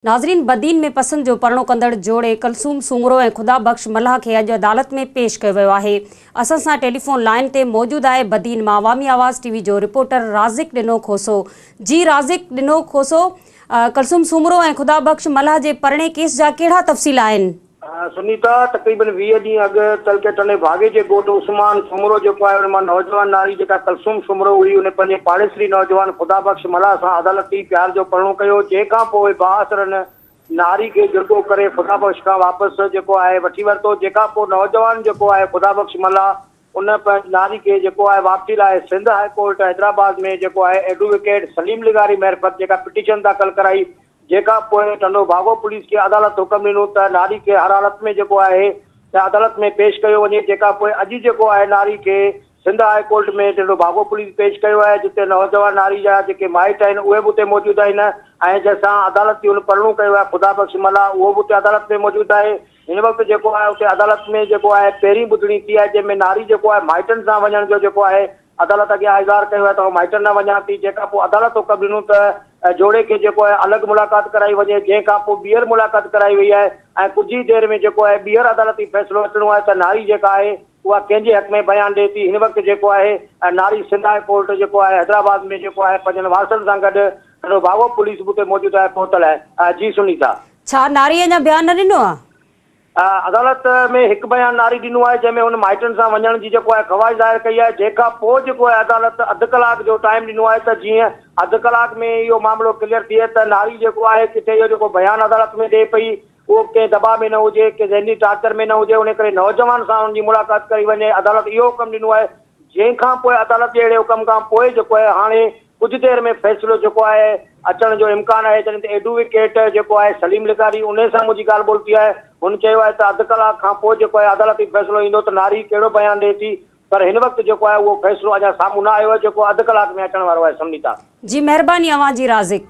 ناظرين بدين ۾ پسند جو پرڻو ڪندڙ جوڙي ڪلثوم سومرو ۽ خدا بخش ملاح کي اڄ عدالت ۾ پيش ڪيو ويو آهي اسان سان ٽيليفون لائين تي موجود آهي بدين مان عوامي آواز ٽي وي جو رپورٽر رازق ڏنو کوسو جي رازق ڏنو کوسو ڪلثوم سومرو ۽ خدا بخش ملاح جي پرڻي ڪيس جا ڪهڙا تفصيل آهن. سنيتا، تقريبن ويهه ڏينهن اڳ تعلقي ٽنڊي ڀاڳي جي ڳوٺ عثمان سومرو جيڪو آهي ان مان نوجوان ناري جيڪا ڪلثوم سومرو هئي ان پنهنجي پاڙيسري نوجوان خدا بخش ملاح سان عدالتي پيار جو پرڻو ڪيو جنهن کان پوء بااثر ان ناري کي جرڳو ڪري خدا بخش کان واپس جيڪو آهي وٺي ورتو جنهن کان پوء نوجوان جيڪو آهي خدا بخش ملاح ان پنهنجي نالي کي جيڪو آهي واپسي لاء سنڌ هاء ڪورٽ حيدرآباد ۾ جيڪو آهي ايڊووڪيٽ سليم لغاري معرفت جيڪا پٽيشن داخل ڪرائي جيڪا پوء ٽنڊو ڀاڳو پوليس کي عدالت حڪم ڏنو ته نالي کي هر حالت ۾ جيڪو آهي ته عدالت ۾ پيش ڪيو وڃي جيڪا پوء اڄ جيڪو آهي نالي کي Sindh high court ۾ Tando Bhago police پيش ڪيو آهي جتي نوجوان نالي جا جيڪي مائٽ آهن اهي به اتي موجود آهن ۽ جنهن سان عدالت جي هن پرڻو ڪيو آهي خدا بخش ملاح اهو به اتي عدالت ۾ موجود آهي هن وقت جيڪو آهي اتي عدالت ۾ جيڪو آهي پهرين ٻڌڻي ٿي آهي جنهن ۾ ناري جيڪو آهي مائٽن سان وڃڻ جو جيڪو آهي عدالت اڳيان اظهار ڪيو آهي ته آئون مائٽن نه وڃان ٿي جنهن کان پوء عدالت حڪم ڏنو ته جوڙي کي جيڪو آهي الڳ ملاقات ڪرائي وڃي جنهن کان پوء ٻيهر ملاقات ڪرائي وئي آهي ۽ ڪجهه ئي دير ۾ جيڪو آهي ٻيهر عدالتي فيصلو اچڻو آهي ته ناري جيڪا آهي اها ڪنهن جي حق ۾ بيان ڏئي ٿي هن وقت جيڪو آهي ناري سنڌ هاء ڪورٽ جيڪو آهي حيدرآباد ۾ جيڪو آهي پنهنجن وارثن سان گڏ سندو ڀاوو پوليس به اتي موجود آهي پهتل آهي جي سنيتا. ڇا ناري اڃا بيان نه ڏنو آهي؟ عدالت ۾ هڪ بيان ناري ڏنو آهي جنهن ۾ هن مائٽن سان وڃڻ جي جيڪو آهي خواهش ظاهر ڪئي آهي جنهن کان پوء جيڪو آهي عدالت اڌ ڪلاڪ جو ٽائيم ڏنو آهي ته جيئن اڌ ڪلاڪ ۾ اهو معاملو ڪليئر ٿئي ته ناري جيڪو آهي ڪٿي اهو جيڪو بيان عدالت ۾ ڏئي پئي اهو ڪنهن دٻاء ۾ نه هجي ڪنهن ذهني ٽارچر ۾ نه هجي ان ڪري نوجوان سان ان جي ملاقات ڪئي وڃي عدالت اهو حڪم ڏنو آهي جنهن کان پوء عدالت جي اهڙي حڪم کان پوء جيڪو آهي هاڻي ڪجهه دير ۾ فيصلو جيڪو آهي اچڻ جو امڪان آهي جڏهن ته ايڊووڪيٽ جيڪو آهي سليم لغاري انهي سان منهنجي ڳالهه ٻولهه ٿي آهي هن چيو آهي ته اڌ ڪلاڪ کان پوء جيڪو آهي عدالتي فيصلو ايندو ته ناري ڪهڙو بيان ڏئي ٿي پر هن وقت جيڪو آهي اهو فيصلو اڃا سامهون نه آيو آهي جيڪو اڌ ڪلاڪ ۾ اچڻ وارو آهي سمنيتا. جي مهرباني اوهان جي رازق.